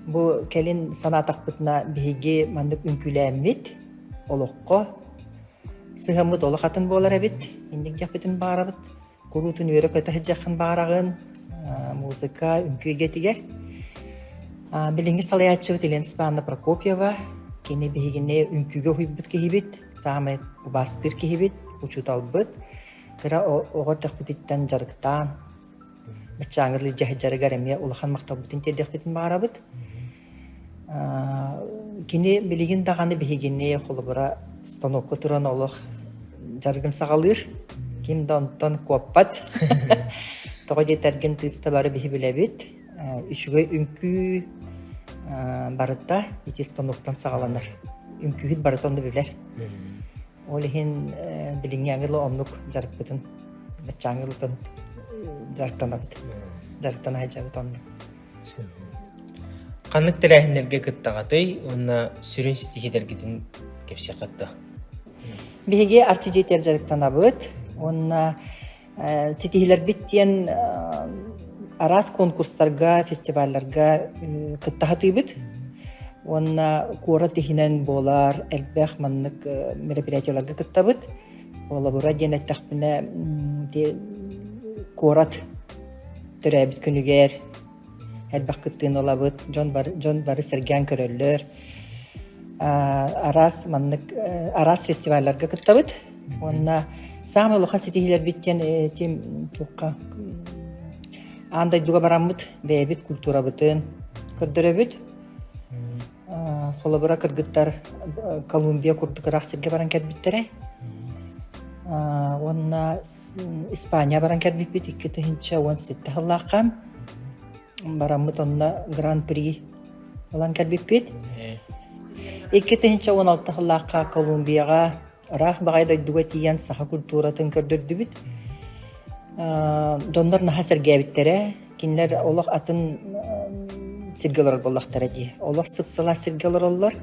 Бу кэлин санаатахпытына биһиги маннык үҥкүүлээммит олоххо сыһаммыт олох атын буолар эбит. Инник дьахпытын баҕарабыт куруутун үөрэ көтө сылдьаххын баҕараҕын музыка үҥкүү эйгэтигэр. Билиҥҥи салайааччыбыт Елена Степановна Прокопьева кини биһигини үҥкүүгэ уһуйбут киһибит, саамай убаастыыр киһибит, учууталбыт. Кыра оҕо төхпүтүттэн дьарыктаан, ыччааҥҥыт илдьэ сылдьарыгар эмиэ улахан махталбытын тиэрдиэхпитин баҕарабыт. Кини билигин даҕаны биһигини холобура станокка туран олох дьарыгын саҕалыыр. Ким да онтон куоппат. Тоҕо диэтэргин тыыста бары биһи билэбит. Үчүгэй үҥкүү барыта ити станоктан саҕаланар. Үҥкүүһүт барыта онно билэр. Ол иһин билиҥҥи ангелы оннук дьарыкпытын, бачча ангелытын дьарыктанабыт. Дьарыктана сылдьабыт оннук. Ханнык тэрээһиннэргэ кыттаҕатый уонна сүрүн ситиһиилэргитин кэпсиэххит да? Биһиги арчидьийтэр дьарыктанабыт уонна ситиһилэрбит диэн араас конкурстарга, фестивалларга кыттаһытыыбыт уонна куорат иһинэн буолар элбэх маннык мероприятиеларга кыттабыт. Холобура диэн эттэхпинэ куорат төрөөбүт күнүгэр Элбэх кыттыыны ылабыт, дьон бары, дьон бары сэргээн көрөллөр. араас маннык араас фестивалларга кыттабыт уонна саамай улахан ситиһиилэрбит диэн этим туохха аан дойдуга бараммыт бэйэбит культурабытын көрдөрөбүт холобура кыргыттар Колумбия курдук ыраах сиргэ баран кэлбиттэрэ уонна Испания баран кэлбиппит икки тыһыынча уон сэттэ сыллаахха бараммыт онно гран при ылан кэлбиппит икки тыһыынча уон алта сыллаахха Колумбияҕа Ыраах баҕайы дойдуга тиийэн саха культуратын көрдөрдүбүт. Дьоннор наһаа сэргээбиттэрэ. Кинилэр олох атын сиргэ олорор буоллахтара дии. Олох сып-сылаас сиргэ олороллор.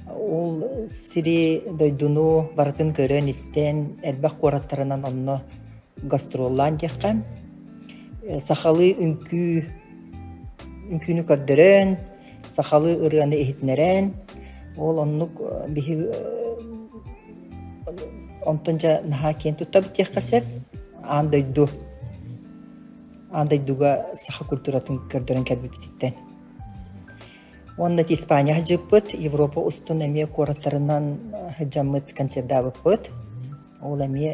Ол сири, дойдуну барытын көрөн-истэн, элбэх куораттарынан онно гастроллаан диэххэ, сахалыы үҥкүү, үҥкүүнү көрдөрөн, сахалыы ырыаны иһитиннэрэн, ол оннук биһиги онтон дьэ наһаа киэн туттабыт диэххэ сөп аан дойду аан дойдуга саха культуратын көрдөрөн кэлбиппититтэн уонна испания сыдьыппыт европа устун эмиэ куораттарынан сыдьаммыт концертдаабыппыт ол эмиэ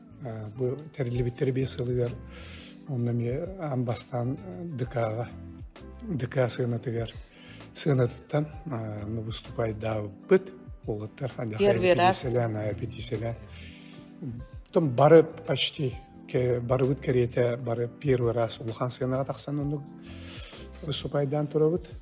Бу тэриллибиттэр биэс сылыгар онно эмиэ аан бастаан ДК-ҕа ДК сыанатыгар сыанатыттан ну выступайдаабыт уолаттар эпидиисэлээн эпидиисэлээн потом бары почти барыбыт кэриэтэ бары первый раз улахан сыанаҕа тахсан оннук выступайдаан турабыт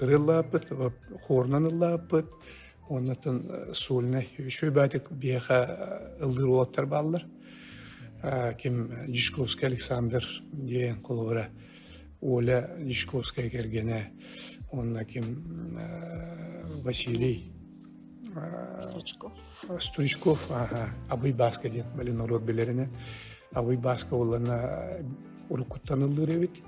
Ырыллааппыт, хворунан ыллааппыт, оннотон сольный үчүгэй баатык биэха ыллыыр уолаттар бааллар. Ким Дьячковский Александр диэн коловара Оля Дьячковская кэргэнэ, онно ким Василий Стручков. Стручков, ага, Абый Баска диэн, блин, норуот билэринэ. Абый Баска олана уруккуттан ыллыыр эбит.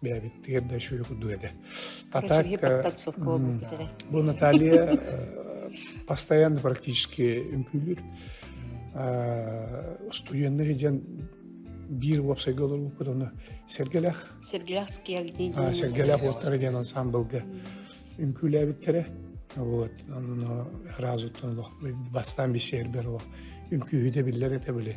бэйэбиттигэр да үчүгэй курдук этэ. Патак бу Наталья постоянно практически үҥкүүлүүр. Устуенных диэн биир уопсайга олорбуппут оны Сергелях Сергелях скиагдин Сергелях уоттара диэн ансамблга үҥкүүлээбиттэрэ вот оно разу тон бастан бисиэрбер ол үҥкүүһү да биллер этэ били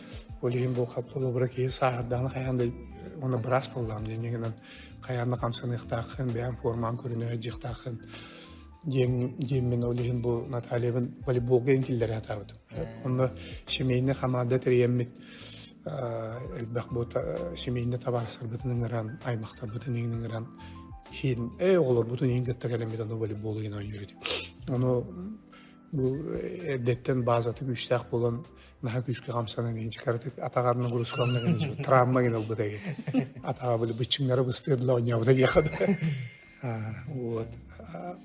Ол иһин бу холобура киһи сааһырдаҕына хайаан да уонна быраас буоллаам диэн гынан хайаан да хамсаныахтааххын, бэйэм формаҕын көрүнэ дьиэхтааххын диэн диэммин ол иһин бу Натальябын волейболга иҥкиллэрэ сатаабытым. Онно семейный хамаанда тэрийэммит элбэх бу семейный табаарыстарбытын ыҥыран, аймахтарбытын ыҥыран иһин эй оҕолорбутун иҥ дэтта кэлэммит аны волейбол иһин оонньуур этим. Ону Бу эрдэттэн баазатын үстээх буолан наһаа күүскэ хамсанан иһин кыратык атаҕар нагрузкалана гына травма гына ылбыта атаҕа били быччыҥнары быстыырла оонньообута диэхэ да вот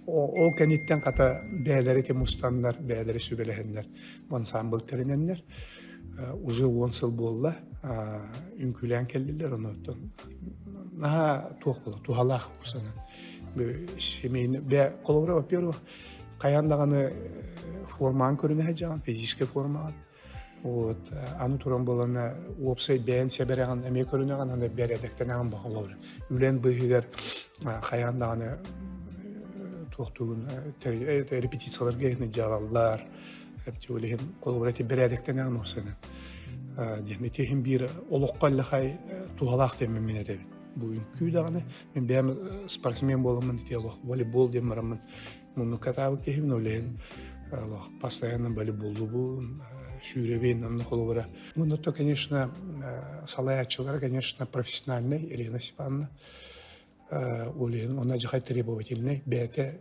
ол кэнниттэн хата бэйэлэри ити мустаннар бэйэлэри сүбэлэһэннэр ансамбыл тэринэннэр уже он сыл буолла үҥкүүлээн кэллилэр онуттан наһаа туох була туһалаах санан семейный бе холобура во-первых хайан даҕаны формаан көрүнэһэ дьаҕан физический формаан вот аны туран балана уопсай бэйэн сэбэрэҕин эмиэ көрүнэҕин аны бэрэдэктэнэҕин баһылар үлэн быыһыгар хайан даҕаны туохтугун репетицияларга иһini дьаҕаллар тюлихин холобура ти бэрэдэктэнэҕин уопсанын диэн ити иһин биир олоххо лахай туһалаах деммин этэбит бу күүдэҕине мин бэйэм спортсмен буоламмын ити олох волейбол диэн бараммын мунну катаабыт киһибин олеһин олох постоянно волейболлубун сүүрэбин анна холобура мунна то конечно салаячылар конечно профессиональный елена степановна олеһин она же требовательный бэйэтэ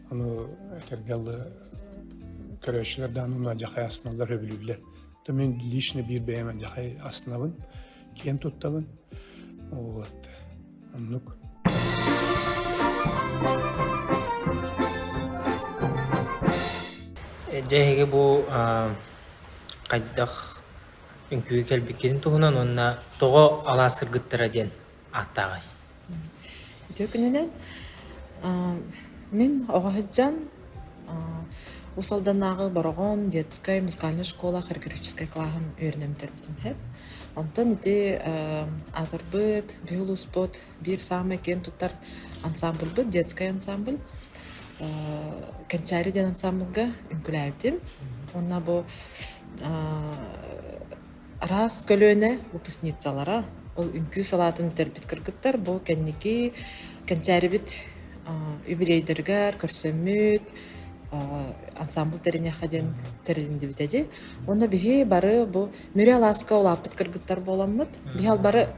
Ону этэргэ алла көрөөччүлэрдээн уну адьахай астыналлар өбүлүллэр. То мен лично биир бэйэм адьахай астынабын, киэн туттабын. Вот. Оннук. Дьэһиги бу хайдах үҥкүү кэлбиккин туһунан уонна тоҕо алаас кыргыттара диэн ааттааҕый? Үтүө күнүнэн. Мин оҕо сылдьан Уус-Алданнааҕы Бороҕон детскай музыкальнай школа хореографическай клаһын үөрэнэн бүтэрбитим үһү. Онтон ити аатырбыт биһи улууспут биир саамай киэн тутар ансаамбылбыт детскай ансаамбыл Кэнчээри диэн ансаамбылга үҥкүүлээбитим. Уонна бу Араас көлүөнэ выпускницалара ол үҥкүү салаатын бүтэрбит кыргыттар бу кэнники кэнчээрибит юбилейдарыгар көрсөммүт ансамбыл тэриниэххэ диэн тэрилиннибит эди. Уонна биһи бары бу Мүрү алааска улааппыт кыргыттар буоламмыт, биһи бары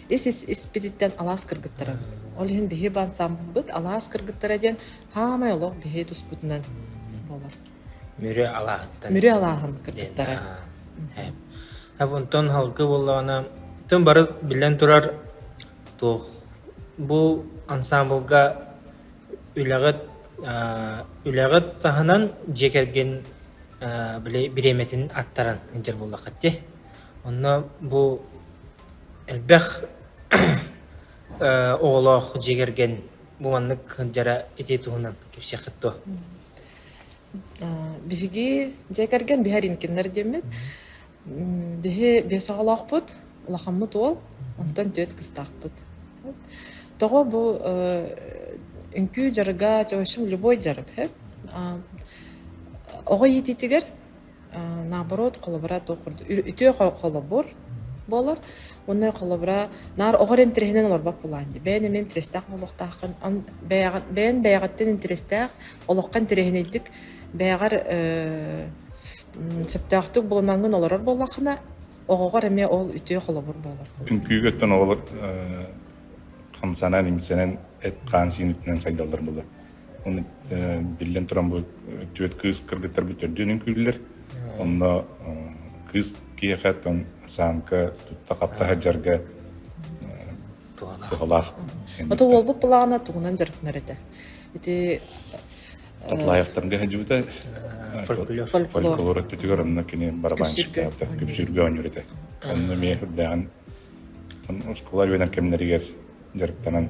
ис-испититтэн алаас кыргыттарабыт. Ол иһин биһи бу ансамбылбыт алаас кыргыттара диэн хаамай олох биһи туспутунан буолар. Мүрү алааһыттан. Мүрү алааһын кыргыттара. Онтон халка буоллаҕына, тым бары биллэн турар туох бу ансамблга үлэҕит үлэҕит таһынан дьиэ кэргин бириэмэтин аттаран сылдьар буоллаххыт дии. Онно бу элбэх оҕолоох дьиэ кэргэн бу маннык сылдьара ити туһунан кэпсиэххит дуо? Биһиги дьиэ кэргэн биһэр инкиннэр диэммит. Биһи биэс оҕолоохпут, улахаммыт уол, онтон түөрт кыстаахпыт. Тоҕо бу үҥкүү дьарыга, в общем, любой дьарык оҕо иитиитигэр Э, наоборот, холобура туох курдук ү үтүө хо холобур буолар уонна холобура наар оҕо эрэ интэриэһинэн олорбот булаан дии. Бэйэн эмиэ интэриэстээх буолуохтааххын. Ан бэйэҕин бэйэн бэйэҕиттэн интэриэстээх, олоххо интэриэһинэйдик бэйэҕэр э, м, сөптөөхтүк булунаргын олорор буоллаххына, оҕоҕор эмиэ ол үтүө холобур буолар холобур. Үҥкүүгэттэн оҕолор э, хамсанан, имсэнэн, эт-хаан сиин үтүнэн сайдаллар буолар. Биллэн туран, бу түөрт кыыс кыргыттарбыт төрдүөн үҥкүүллэр. Онно кыыс киэхэ тон саанка тутта-хапта сылдьарга туһалаах. Ото уолбут плана тугунан дьарыктанар этэ. Ити Тотлаевтарга хадьыбыта фольклор өттүтүгэр онно кини барабанщиктаабыта күпсүүргэ оонньуур этэ. Онно эмиэ үрдээҕин оскуола үөнэн кэмнэригэр дьарыктанан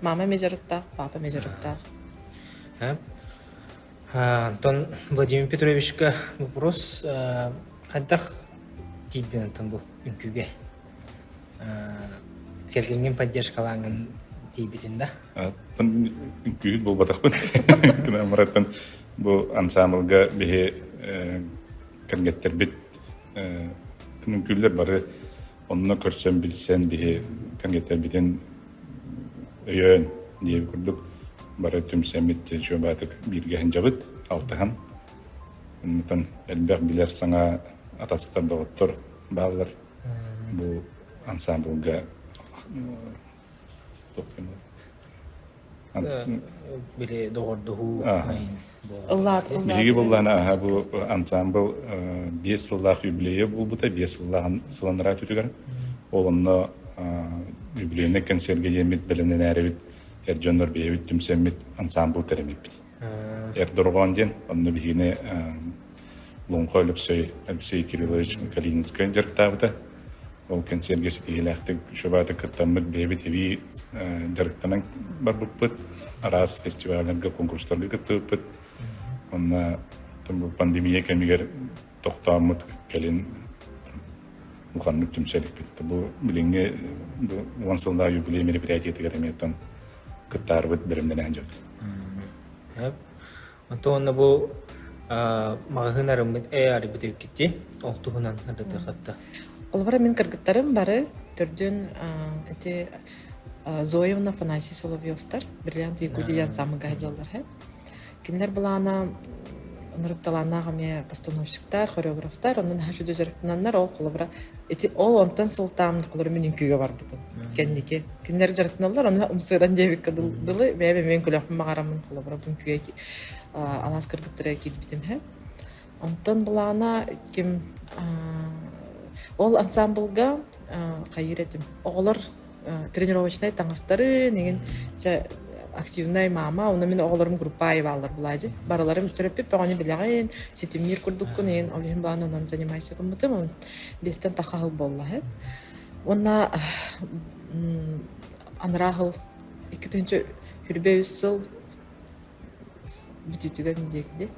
Мама эмэ дьарыктаах, папа эмэ дьарыктаах. Антон Владимир Петровичка вопрос хайдах тиийдин Антон бу үнкүүгэ кэргэнгин поддержкалаангын тиийбитин да Аттан үҥкүүһүт буолбатахпын кынаа мараттан бу ансаамылга биһи кэргэттэрбит үҥкүүллэр бары Онно көрсөн-билсэн биһи кэҥэтэрбитин өйөөн диэбит курдук бары түмсэммит чуобаатык бииргэһинжэбит алтыһан оннутан элбэх билэр саҥа атастар доҕоттор бааллар бу ансаамбылга Туох гынар? Били доҕордоһуу Биһиги быллаан аһа бу ансаамбыл биэс сыллаах юбилейа буолбута, биэс сыллаах сыланараа түтүгэр. Ол онно юбилейный концерге диэммит бэлэмнэнээрибит эр дьоннор бэйэбит түмсэммит ансаамбыл тэримиппит. Эрдорҕоон диэн онно биһиги Луҥха Өлөксөй Алексей Кириллович Калининскай дьарыктаабыта. Ол кэнсиэргэ ситиһиилээхтик шабаата кыттаммыт бэйэбит эбии дьарыктанан барбыппыт. Араас фестивалларга, конкурстарга кыттыбыппыт. Онно пандемия кэмигэр тохтооммут кэлин уханнык түмсэликпит. Бу билиҥҥи уон сыллаах юбилей мероприятиетыгар эмиэтэн кыттаарбыт бэлэмнэнэ сылдьабыт. Онтон онно бу маҕаһыын арыммыт ээр бүтүркити ол туһунан ардатыхатта. Олбара мин кыргыттарым бары төрдүн эти Зоевна Афанасий Соловьевтар бриллиант Якутия сам гайдаллар Кинилэр былаана ырыкталааннаах эмиэ постановщиктар, хореографтар, онон наһаа үчүгэй дьарыктананнар ол холобура ити ол онтон сылтаан холобура мин үҥкүүгэ барбытым кэнники. Кинилэр дьарыктаналлар, онно ымсыыран диэбиккэ дылы бэйэм эмиэ үҥкүүлэхпин баҕараммын холобура бу үҥкүүгэ анаас кыргыттара киирбитим иһэ. Онтон былаана ким ол ансаамбылга хайыыр этим оҕолор тренировочнай таҥастарын игин чэ активнай маама уонна мин оҕолорум группа аайыбааллар былаа дьи барыларым төрөппүт бөҕөнү билэҕин ситимниир курдуккун игин ол иһин былаан онон занимайся гыммытым биэстэн тахха аһыл буолла үһү уонна анараа аһыл икки тыһыынча үрбэ үс сыл бүтүүтүгэр диэки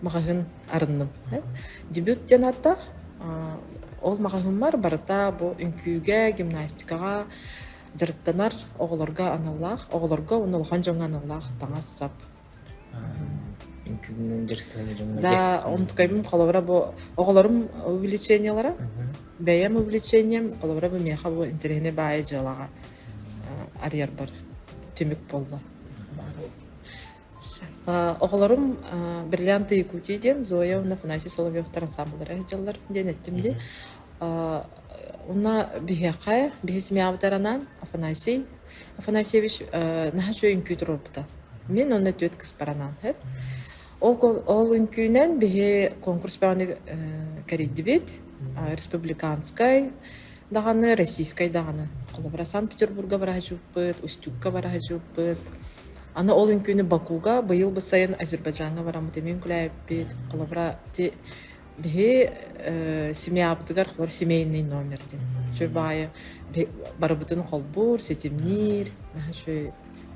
маҕаһыын арынныбыта. Дебют диэн ааттаах, ол маҕаһыыммар барыта бу үҥкүүгэ, гимнастикаҕа дьарыктанар оҕолорго аналлаах, оҕолорго уонна улахан дьоҥҥо аналлаах таҥас-сап. Да, онтукайым холобура бу оҕолорум увлечениелара. Бэйэм увлечением холобура бу миэхэ бу интэриэһинэй баайы дьыалаҕа арыйарбар түмүк буолла. Э, оҕолорум э, «Бриллианты Якутии» диэн Зоя уонна Афанасий Соловьевтар ансаамбыллара ыдьаллар диэн эттим дии. Э, Уна биһиэхэ биһисмиабытаранан Афанасий Афанасьевич э, наһаа үчүгэй үҥкүү туруорбута. Мин онно түөт кыспаранан хэт. Ол ол үҥкүүнэн биһи конкурс бааны кэрийдибит республиканскай даҕаны российскай даҕаны холобура санкт-петербурга бараһачыппыт устюгка бараһачыппыт аны ол үҥкүүнү бакуга быйыл бы сайын азербайджаҥҥа бараммыт эмиэ үҥкүлээбиппит холобура ити биһи э, семьябытыгар холобура семейный номер диэн үчүгэй баайы барыбытын холбуур ситимниир наһаа үчүгэй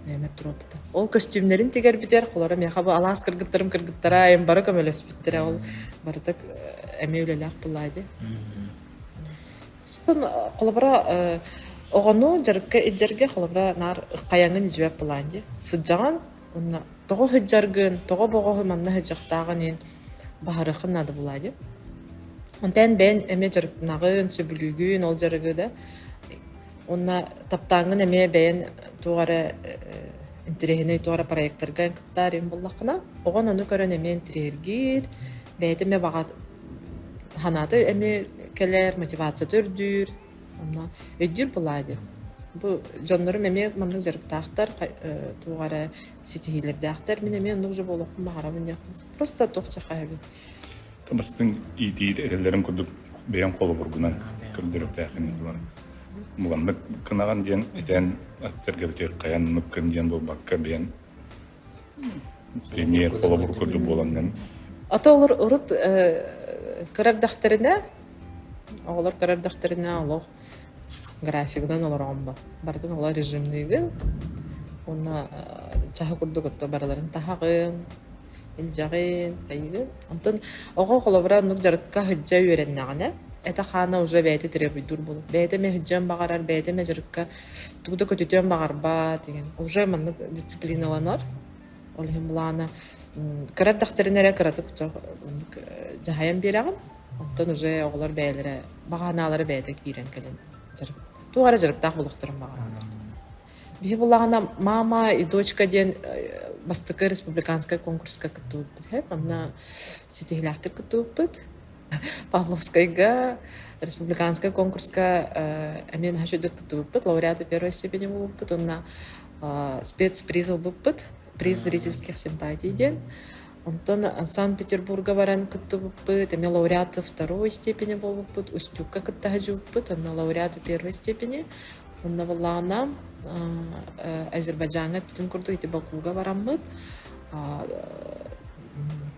нөмер туруоппута ол көстүүмнэрин тигэрбитэр холоро миэхэ бу алаас кыргыттарым кыргыттара эм бары көмөлөспүттэрэ ол барыта э, эмиэ үлэлээх былаайды Холобура, э, оҕону дьарыкка илдьэргэ холобура наар хайаҥҥын үзүбэт былаан дии. Сылдьаҕын уонна тоҕо сылдьаргын, тоҕо бөҕөһү манна сылдьыахтааҕын иһин баһарыаххын наада буолуо дии. Онтон бэйэҥ эмиэ дьарыктанаҕын, сөбүлүүгүн ол дьарыгы да. Уонна таптааҥҥын эмиэ бэйэҥ туох эрэ интэриэһинэй туох эрэ проектарга кыттаарыҥ буоллаххына, оҕоҥ ону көрөн эмиэ интириэһиргиир, бэйэтэ эмиэ баҕа Санаата эмиэ кэлэр, мотивацията үрдүүр. Онно өйдүүр былаа диэн. Бу дьоннорум эмиэ маннык дьарыктаахтар, э туох эрэ ситиһиилэрдээхтэр. Мин эмиэ оннук дьэ буолуохпун баҕарабын диэххэ просто туох чахаһыйбыт. Бастыҥ иитии этэллэрин курдук бэйэм холобургунан көрдөрүөхтээхин булан муҥаннык гынаҕын диэн этээн аттарга битиэххэйэн мыккын диэн буолбакка бэйэн Премьер холобур курдук буолан Ата олор урут көр эрдэхтэринэ оҕолор көр эрдэхтэринэ олох графигынан олороон ба барытын оло режимниигин уонна чаһы курдук отто барыларын таһаҕын илдьэҕин айыгын онтон оҕо холобура оннук дьарыкка сылдьа үөрэннэҕинэ это хаана уже бэйэтэ төрөбүйдүүр буолар бэйэтэ эмэ сылдьыан баҕарар бэйэтэ эмэ дьарыкка Тугу да көтүтүөн баҕарбат, иһин уже маннык дисциплиналанар. Ол иһин былаана м, кыра эрдэхтэринэ эрэ кыратык чох маннык э, дьаһайан биэрэҕин. Оттон уже оҕолор бэйэлэрэ баҕаанаалара бэйэтэ киирэн кэлэн дьарык туох эрэ дьарыктаах буолуохтарын баҕараллар. Биһи былаана Мама и дочка диэн э, бастакы республиканскай конкурска кыттыбыппыт үһү. Манна ситиһилээхтик кыттыбыппыт. Павловскайга республиканскай конкурска э, эмиэ наһаа үчүгдүк кыттыбыппыт, лауреаты первой степени булбуппут уонна э, спецприз ылбыппыт, приз зрительских симпатий диэн. Онтон Санкт-Петербурга баран кыттыбыппыт, эмиэ лауреаты второй степени буолбуппут, Устюгка кыттаһа дьуппут, онно лауреаты первой степени, онно буллаҕына Азербайджаҥҥа бүтүн курдук ити Бакуга бараммыт,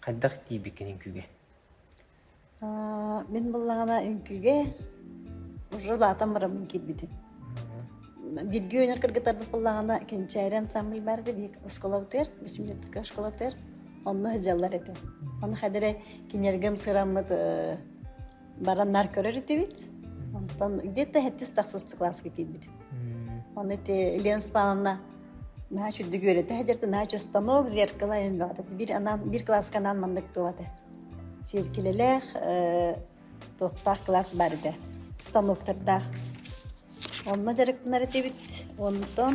Хайдах тиийбиккин үҥкүүгэ? мин буллаҕына үҥкүүгэ желатом барамын киирбитим бииргэ үүнэр кыргыттарбыт буллаҕына кэнчээри ансамбль баар этэ биһик осколобытыгар бисимлеттика осколобытыгар онно сылдьаллар этэ ону хадары кинилэргем сыраммыт бараннар көрөр этибит онтон где-то сэттис тахсыс класска киирбитим оны ити елена спановна наһаа чуддук үөрэтэ хадерте наһаа чыстанок зеркало эм баҕата бир анаан бир класска анаан маннык туовате сиэркилэлээх туохтаах класс бар этэ станоктардаах онно дьарыктанар этибит онтон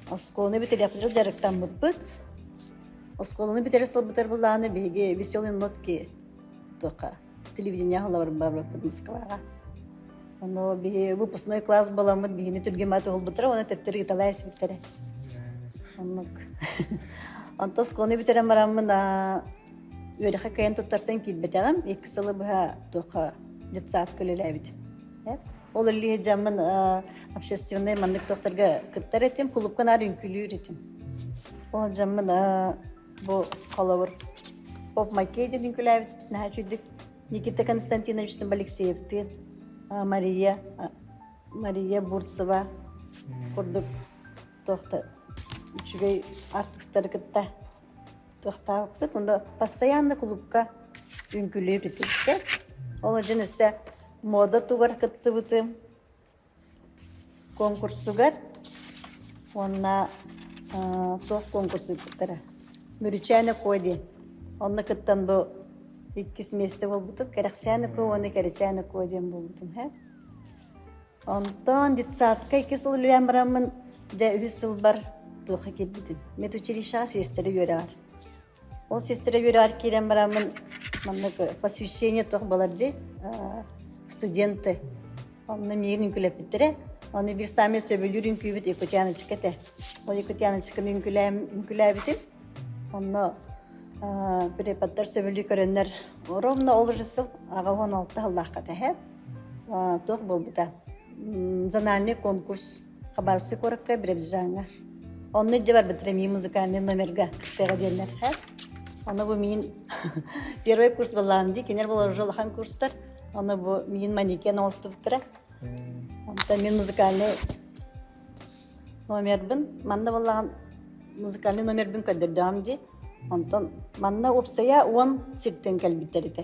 оскуоланы бүтэриэхпитигэр дьарыктаммыппыт оскуоланы бүтэри сылбытар булааны биһиги веселые нотки туха телевидение аһылабар барбыппыт Москваҕа. Оно биһи выпускной класс боламмыт биһини түргемат уһулбуттара уонна төттөрү ыталай ситтэрэ. Оннук. Онтон сконы бүтерен бараммын үөрэхэ кыйан туттарсан киирбэтэҕим. Екі сылы быһа туха детсад көлөлөөбүт. Ол иллиһи жаммын общественный маннык тохтарга кыттар этим, кулупка наар үҥкүлүүр этим. Ол жаммын Бу холобур Поп Маккейди Николаевич наһаа үчүгдүк Никита Константиновичтыын Алексеевтыын Мария Мария Бурцева курдук туохта үчүгэй артыстары кытта туохтаабыппыт онда постоянно клубка үҥкүүлүүр ити все ол дьон өссө муода тувар кыттыбытым Куонкурсугар уонна туох куонкурс ыыппыттара Мүрүчээн Өкуо диэн онно кыттан бу иккис миэстэ буолбутум Кэрэхсээн Өкуо уонна Кэрэчээн Өкуо диэн буолбутум ээ онтон детсадка икки сыл үлэлээн бараммын дьэ үһүс сылбар туохха киирбитим медучилищеҕа сиэстэрэ үөрэҕэр Ол сестра үөрэҕэр киирэн барааммын маннык посвящение туох буолар дии студенты онно миигин үҥкүүлэппиттэрэ оны биир саамай сөбүлүүр үҥкүүбүт Якутяночка этэ ол Якутяночканы үҥкүүлээбитим онно преподдар сөбүлүү көрөннөр ровно ол уже сыл аҕа уон алта сыллаахха тэһэ туох буолбута зональный конкурс Хабаровский куоракка Биробиджаҥҥа. Онно илдьэ барбыт Реми музыкальный номерга кыттыаҕа диэннэр хас. Ону бу мин первый курс буоллаҕым дии, кинилэр болар уже улахан курстар. Ону бу мин манекен оҥостубуттара. Онтон мен музыкальный номербын манна буоллаҕын музыкальный номербын көрдөрдөҕүм дии. Онтон манна уопсайа уон сиртэн кэлбиттэр этэ.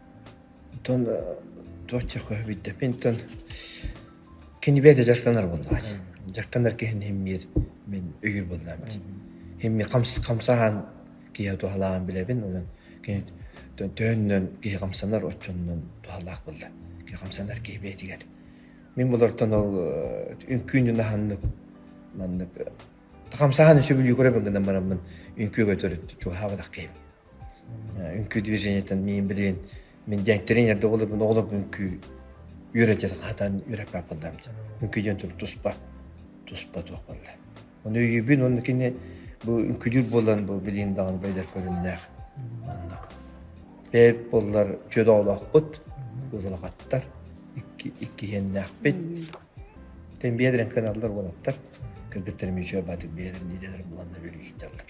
Оттон туох дьылҕаһы билбэппин, оттон кини бэйэтэ дьарыктанар буоллаҕа. Дьарыктанар киһини имиир мин өйүүр буоллаҕым ити. Имиир хамсаһан киһи туһалааҕын билэбин, онон кини төһөннөн киһи хамсанар оччонон туһалаах буолла. Киһи хамсанар киһи бэйэтигэр. Мин болортон ол үҥкүүнү наһаннык маннык хамсаһан сөбүлүү көрөбүн гынан бараммын үҥкүүгэ төрүт чугаһаабатах киһим. үҥкүү движениетын миин билигин мин дьэҥ тренер да болобун оҕолорбун үҥкүү үөрэтиэт хаатан үөрэппэт буоллам үҥкүү диэн турук туспа туспа туох буолла оны өйүүбүн уонна кини бу үҥкүүлүүр буолан бу билигин даҕаны бойдар көрүннээх маннык бэйэбит буоллар түөрт оҕолоохпут уурулахаттар икки иккиһиэннээхпит тэн биэдэрин кыналлар уолаттар кыргыттар мүчүө баатыр биэдэрин идэлэрин буланна бүлүү сыталлар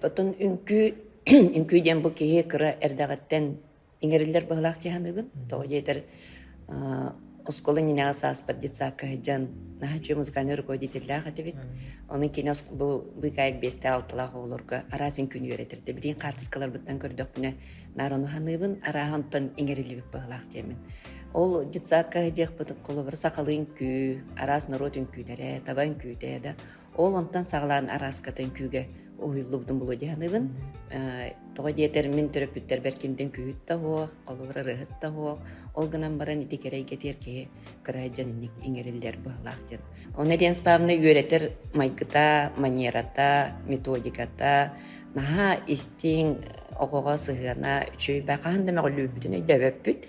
Потом үҥкүү үҥкүү диэн бу киһи кыра эрдэҕиттэн иҥэриллэр быһылаах дьаһаныыбын. Тоҕо диэтэр оскуола иннинээҕи сааспар детсадка сылдьан наһаа үчүгэй музыкальный руководителлаах этибит. Ону кини бу быыкаайык биэстээх алталаах оҕолорго араас үҥкүүнү үөрэтэрдэ. Билиин хаартыскаларбыттан көрдөхпүнэ наараны ханыыбын, арааһантан иҥэриллибит быһылаах диэмин. Ол детсадка диэхпит холобура сахалыы үҥкүү, араас норуот үҥкүүлэрэ, таба үҥкүүтэ да Ол онтон саҕалаан арааскатын күүгэ уһуйуллубутум булуо дьаһаныбын. Тоҕо диэтэр мин төрөппүттэрбэр кимдин күүһүт да суох, холобур ырыаһыт да суох, ол гынан баран ити кэрэ эйгэтигэр киһи кыраайдьан дьон инник иҥэриллэр быһалаах диэн. Онно Лена Павловна үөрэтэр майгыта, манерата, методиката наһаа истиҥ, оҕоҕо сыһыана үчүгэй. Хаһан да мөҕүллүүбүтүн өйдөөбөппүт.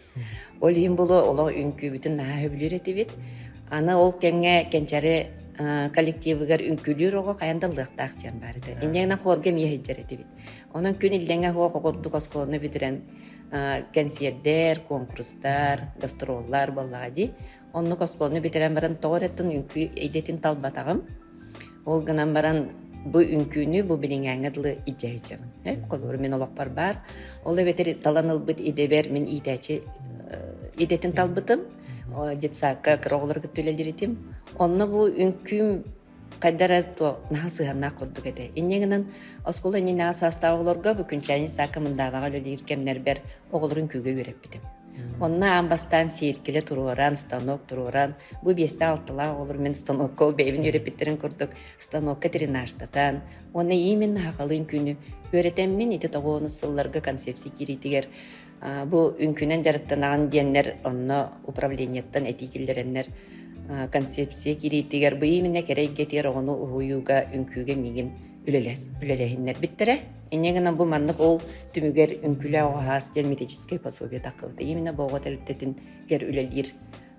Ол иһин булу олох үҥкүүбүтүн наһаа сөбүлүүр этибит. Аны ол кэмҥэ кэнчэри коллективыгар үҥкүүлүүр оҕо хайан да ылыахтаах диэн баар ити. Иннинэ хорга эмиэ сылдьар этибит. Онон күн иллэҥэ оһох оҕурдук оскуоланы бүтэрэн кэнсиэрдэр, конкурстар, гастроллар буоллаҕа дии. Оннук оскуоланы бүтэрэн баран тоҕо эрэ тын үҥкүү идэтин талбатаҕым. Ол гынан баран бу үҥкүүнү бу билиҥээҥҥэ дылы илдьэһиччэбин. Эп холууру мин олохпор баар. Ол эбэтэр талан ылбыт идэбэр мин иитээчи идэтин талбытым. Детсадка кыра оҕолору кытта үлэлиритим. Онно бу үҥкүүм хайдар эрэ то наһаа сыһаннаах курдук этэ. Инньэ гынан оскуола иннинээҕи саастаах оҕолорго бу күнчээни саакка мындаабаҕа үлэлиир кэмнэрбэр оҕолорун күүгэ үөрэппитим. Онно аан бастаан сиэркилэ туруоран, станок туруоран, бу биэстээх-алталаах оҕолор мин станокка, ол бэйэбин үөрэппиттэрин курдук, станокка тренажтатан, уонна иимин наахалыын күнү үөрэтэммин ити тоҕуонус сылларга концепция киириитигэр бу үҥкүнэн дьарыктанаҕын диэннэр, онно управлениеттан этии киллэрэннэр концепция киириитигэр бу ииминэ кэрэ эйгэтигэр оҕону уһуйууга, үҥкүүгэ миигин үлэлэһиннэрбиттэрэ инньэ гынан бу маннык ол түмүгэр үҥкүлээх оҕаһаас диэн митическэй пособие такылыта именно боҕо тэрилтэтингер үлэлиир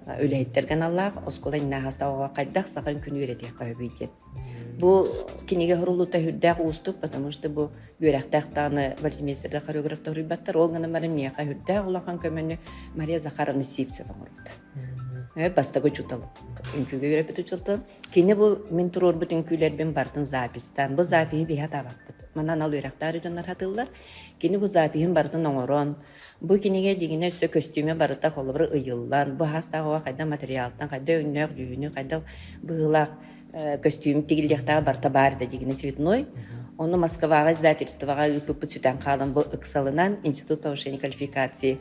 үлэһиттэргэ аналлаах оскуола иннааһастаҕа хайдах саха үҥкүнү үөрэтиэххэ сөбүй диэн бу кинигэ хуруллуута үрдээх уустук потому что бу үөрэхтээх дааны вальмистерга хореографта уруйбаттар ол гынан бары миэхэ үрдээх улахан көмөнү мария захаровна ситцева оҥорбута бастагы учутал үҥкүгэ үөрэппит учутал Кини бу мин туруорбут үҥкүүлэрбин барытын запистаан, бу запиһы биһи атаабаппыт. Манан ал үөрэхтээх дьоннор хатыллар. Кини бу запиһын барытын оҥорон, бу кинигэ дьиҥинэ өссө көстүүмэ барыта холобура ыйыллан, бу аһаастаах оҕо хайдах материалтан, хайдах өҥнөөх дьүһүнү, хайдах быһыылаах э, көстүүм тигиллиэхтээх барыта баар этэ дьиҥинэ цветной. Ону Москваҕа издательствоҕа ыыппыппыт сүтэн хаалан бу ыксалынан Институт повышения квалификации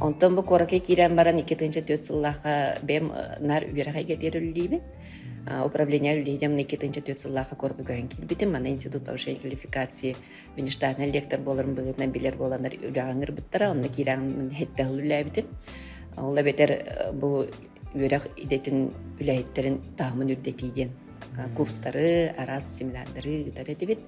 Онтон бу куоракка киирэн баран икки тыһыынча түөрт сыллаахха бэйэм наар үөрэх эйгэ диэри үлэлиибин. управление үлэһинием икки тыһыынча түөрт сыллаахха куоракка көһөн киирбитим. Манна институт повышения квалификации внештатнай лектор буоларым быһыытынан билэр буоланнар үлэҕин ырбыттара. Онно киирэн хетте хыл үлэлээбитим. Ол эбэтэр бу үөрэх идэтин үлэһиттэрин таһымын үрдэтии диэн курстары, араас семинардары ыытар этибит.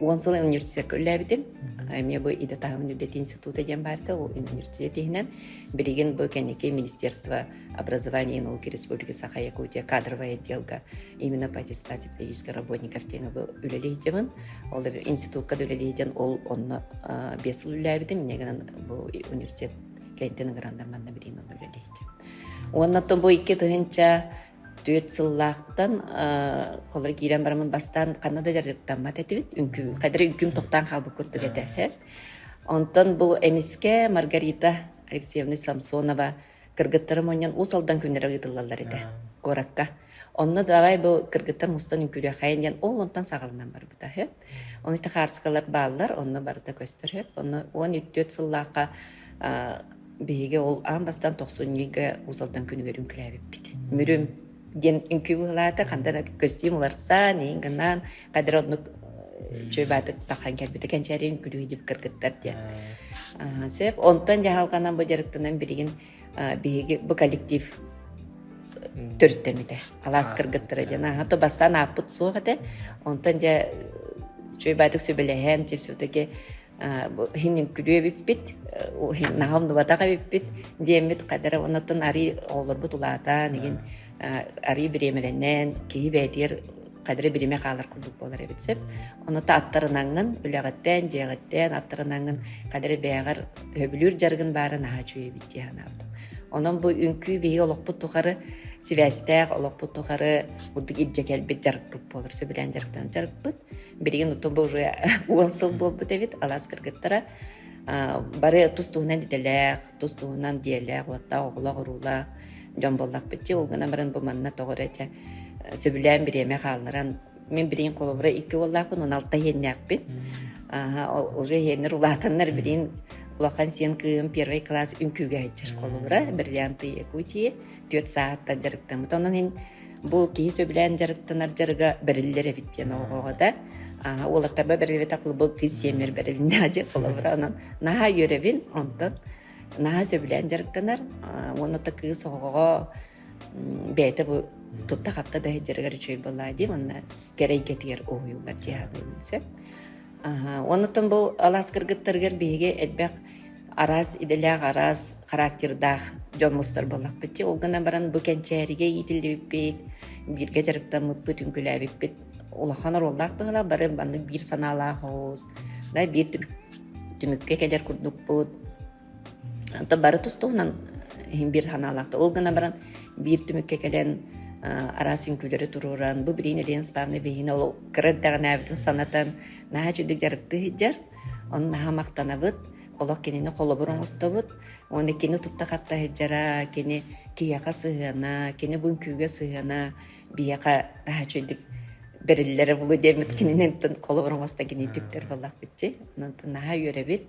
Уон сыл университекка үллээбитим. Мне бы и до того universitет института диэн баарта ол университет иһинэн билигин бу кэнники министерство образования и науки республики Саха Якутия кадровый отделга именно по аттестат педагогических работников диэн үлэлейдебин. Ол институтка да үлэлейден ол онно бес сыл үллээбитим. Мне гынан бу университет кэнтен грандаманна билин оны үлэлейдем. Онна то бу икки тыһынча Түөрт сыллаахтан холоро киирэн барамын бастаан ханна да дьарыктаммат этибит. Үҥкүү, хайдары үҥкүүм токтаан хаалбыккут түгэтэ. Онтон бу эмискэ Маргарита Алексеевна Самсонова кыргыттары мунньан Уус Алдан күннэрэ ыытыллаллар этэ куоракка. Онно давай бу кыргыттар мустан үҥкүүлүөхэйин диэн ол онтон саҕаланан барбыта Ону хаарыскалар бааллар, онно барыта көстөр сөп. Онно уон үтүөт сыллаахха биһиги ол аан бастан тохсунньуга Уусалтан күнүгэрин күлээбиппит. Мүрүм диэн үҥкүү быһылаата, хандан көстүүм уларсан, иин гынан, кадыр оннук чөйбаатык тахан кэлбите кэнчээри үҥкүлүү див кыргыттар диэн. Сөп, онтон дьаһалганан бу дьарыктынан билигин биһиги бу коллектив төрүттэммитэ алаас кыргыттара диэн аха то бастаан ааппыт суох этэ онтон дьэ үчүгэй баатык сүбэлэһэн чипсутаки хиннин күлүү эбиппит наха умнубатах эбиппит диэммит кадара оннотон арый оҕолорбут улаатан игин арый бириэмэлэнэн киһи бээтигэр кадре бириме хаалар курдук буолар эбит сөп. Ону та аттарынаҥын, үлэҕиттэн, дьиэҕиттэн аттарынаҥын кадре бэйэҕэр өбүлүүр жаргын баарын аһа чуйа битти ханаабытым. Онон бу үҥкүү биһи олохпут тухары сибээстээх олохпут тухары бурдук ирдьэ кэлбит жарыкпыт буолар сөбүлээн дьарыктанып жарыкпыт билигин утум уже он сыл буолбут эбит алаас кыргыттара Бары тус туһунан идэлээх, тус туһунан дьиэлээх, уоттаах, оҕолоох-уруулаах дьон буоллахпыт дии. Ол гынан баран бу манна тоҕо эрэ дьэ сөбүлээн бириэмэ хаалларан мин билигин холобура икки уоллаахпын, он алта иһиэннээхпин. Аһа уже иһиэннэр улаатаннар билигин улахан сиэн кыым первый класс үҥкүүгэ сылдьар холобура бриллианты Якутии түөрт саатта дьарыктаммыт. Онон мин Бу киһи сөбүлээн дьарыктанар дьарыга бэриллэр эбит диэн оҕоҕо да. Уолаттарба бэриллибэтэ клубу кыыс сиэмэр бэрилиннэ дьэ холобура онон наһаа үөрэбин онтон наһаа сөбүлээн дьарыктанар уонна то кыыс оҕоҕо бэйэтэ бу тутта-хапта да сылдьарыгар үчүгэй буоллаа дии манна кэрэ эйгэтигэр уһуйуллар дьиһаныан сөп Аһа, оннуттан бу алаас кыргыттарыгар биһиги элбэх араас идэлээх, араас характердаах дьон мустар буоллахпыт. Чэ, ол гынан баран бу кэнчээригэ иитиллибиппит, бииргэ дьарыктаммыппыт, үҥкүлээбиппит улахан оруоллаах быһыылаах. Бары маннык биир санаалаах оҕус, да биир түмүк түмүккэ кэлэр курдукпут. Онто бары тустугунан иһин биир санаалаахта. Ол гына баран биир түмүккэ кэлэн араас үҥкүүлэри турууран, бу билигин Елена Спавна биһине ол кыра эрдэҕинээбитин санатан, наһаа чудик дьарыктыы сылдьар. Оны наһаа махтанабыт. Олох кинини холобур оҥостобут. Уонна кини тутта хапта сылдьара, кини киһиэхэ сыһыана, кини бу үҥкүүгэ сыһыана биһиэхэ наһаа чудик бэриллэрэ буолуо диэммит кинининтэн холобур оҥосто кинини түктэр буоллах битти. Онтон наһаа үөрэбит.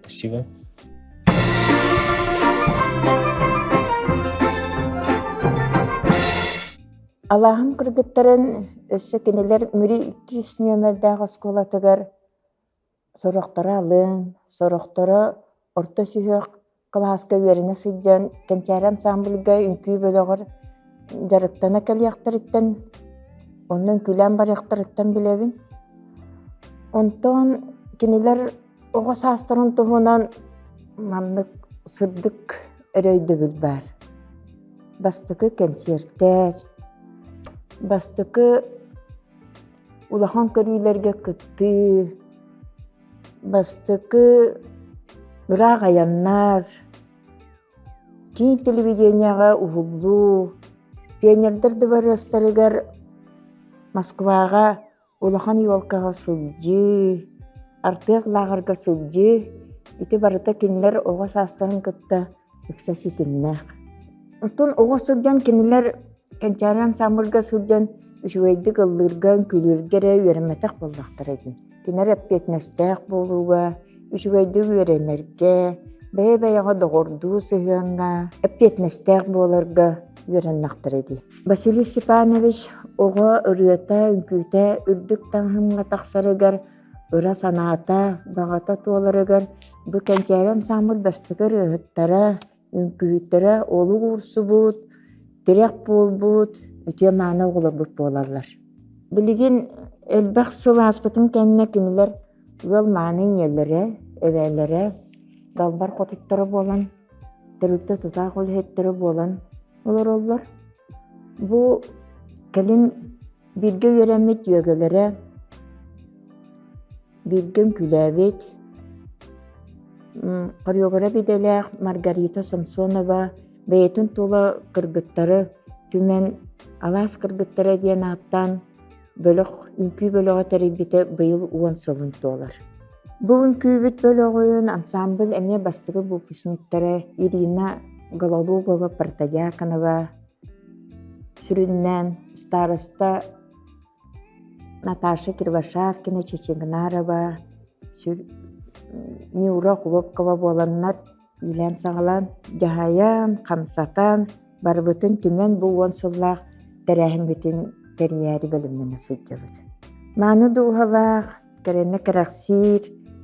Спасибо. Алааһын кыргыттарын өссө кинилэр Мүри иккис нүөмэрдээх оскуолатыгар сорохторо алын, сорохторо орто сүһүөх Кылааска үөрэнэ сылдьан кэнчээри ансаамбылга үҥкүү бөлөҕөр дьарыктана кэлиэхтэриттэн онно үҥкүүлээн барыахтарыттан билэбин. Онтон кинилэр оҕо саастарын туһунан маннык сырдык өрөйдөбүл баар. Бастакы кэнсиэртэр, бастакы улахан көрүүлэргэ кыттыы, бастакы ыраах айаннар киин телевидениеҕа уһуллуу пионердар дыбарыастарыгар москваҕа улахан елкаҕа сылдьыы артыах лааҕырга сылдьыы ити барыта кинилэр оҕо саастарын кытта ыкса ситимнээх. Оттон оҕо сылдьан кинилэр кэнчээри ансамбльга сылдьан үчүгэйдик ыллыырга, үҥкүүлүүргэ эрэ үөрэммэтэх буоллахтара дии. Кинилэр эппиэтинэстээх буолууга, үчүгэйдик үөрэнэргэ, бэйэ-бэйэҕэ доҕордуу сыһыаҥҥа, эппиэтинэстээх буоларга үөрэннэхтэрэ дии. Василий Степанович оҕо ырыата, үҥкүүтэ үрдүк таҥаһымҥа тахсарыгар ыра санаата, баҕата туоларыгар бу кэнчээри ансаамбыл бастакы ырыаһыттара, үҥкүүһүттэрэ олук уурсубут, тирэх буолбут, үтүө-мааны оҕолорбут буолаллар. Билигин элбэх сыл ааспытын кэннэ кинилэр ыал мааны ийэлэрэ, эбээлэрэ, далбар хотуттара буолан, тэрилтэ тутаах үлэһиттэрэ буолан олороллор. Бу кэлин Бииргэ үөрэммит дьүөгэлэрэ, бииргэ үҥкүүлээбит хореограф идэлээх Маргарита Самсонова бэйэтин тула кыргыттары түмэн алаас кыргыттара диэн ааттаан бөлөх үҥкүү бөлөҕө тэрийбитэ быйыл уон сылын туолар. Бу үҥкүүбүт бөлөҕүн ансаамбыл эмиэ бастакы выпускниктара Ирина Гололугова, Протодьяконова, Сүрүннээн староста Наташа Кирвашакина, Чечегнарова, Мюра Хлопкова буоланнар иилээн-саҕалаан дьаһайан, хамсатан, барыбытын түмэн бу уон сыллаах тэрээһиммитин тэрийээри бэлэмнэнэ сылдьабыт. Мааны дууһалаах, кэрэнэ кэрэхсиир,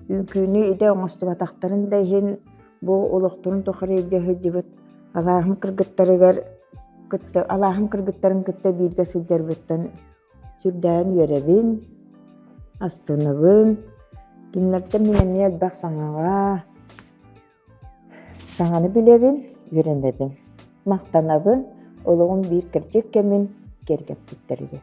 үҥкүүнү идэ оҥостубатахтарын да иһин бу олохторун тухары илдьэ сылдьыбыт алааһын кыргыттарыгар кытта алааһын кыргыттарын кытта бииргэ сылдьарбыттан сүрдээн үөрэбин, астынабын. Кинилэртэн мин эмиэ элбэх саҥаҕа, саҥаны билэбин, үөрэнэбин, махтанабын, олоҕум биир кэрчик кэмин киэргэппиттэригэр.